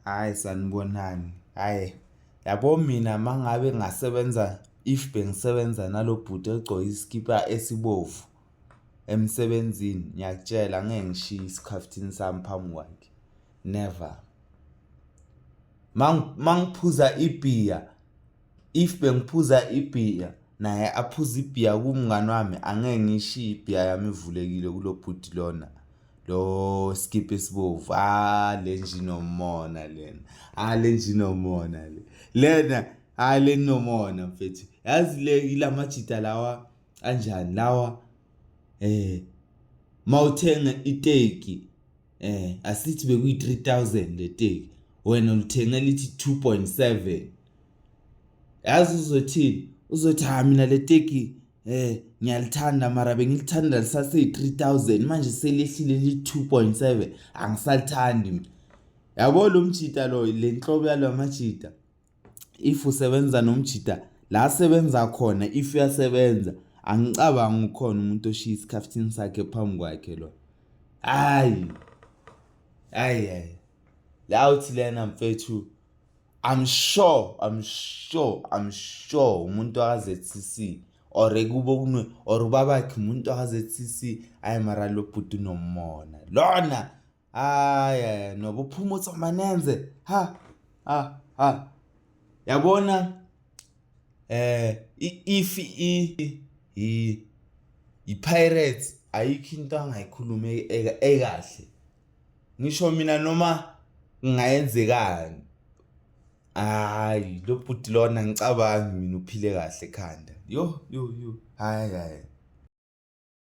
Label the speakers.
Speaker 1: Hayi sanibonani. Hayi yabo mina mangabe ngasebenza if bengisebenza nalo bhuti egcoke isikipa esibovu emsebenzini ngiyakutshela ngeke ngishiye isikhaftini sami phambi kwakhe never mangiphuza ibhiya If bengiphuza ibhiya naye aphuze ibhiya kumngani wami angeke ngishiye ibhiya yami ivulekile kulo bhuti lona lo skip esibovu ah le njinomona lena ah le njinomona le lena ah le nomona mfethu yazi le ilamajita lawa anjani lawa eh mawuthenga iteki eh asithi bekuyi 3000 leteki wena ulithenge lithi 2.7 yazi uzothini uzothi ha mina leteki eh ngiyalithanda mara bengilithanda lisase 3000 manje selehlile li 2.7 angisalithandi mina yabo lo mjita lo le nhlobo yalo majita if usebenza nomjida la asebenza khona if uyasebenza angicabangi ukhona umuntu oshiya isikhaftini sakhe phambi kwakhe lo hayi hayi hayi la uthi lena mfethu I'm sure I'm sure I'm sure umuntu akaZCC or kubo kunwe or ubabakhe umuntu akaZCC ayi mara lo bhuti nomona lona hayi nobuphumutso manenze ha ha ha yabona eh if i i i pirates ayikho into angayikhuluma ekahle ngisho mina noma kungayenzekani hayi lo bhuti lona ngicabangi mina uphile kahle ekhanda yo yo yo hayi hayi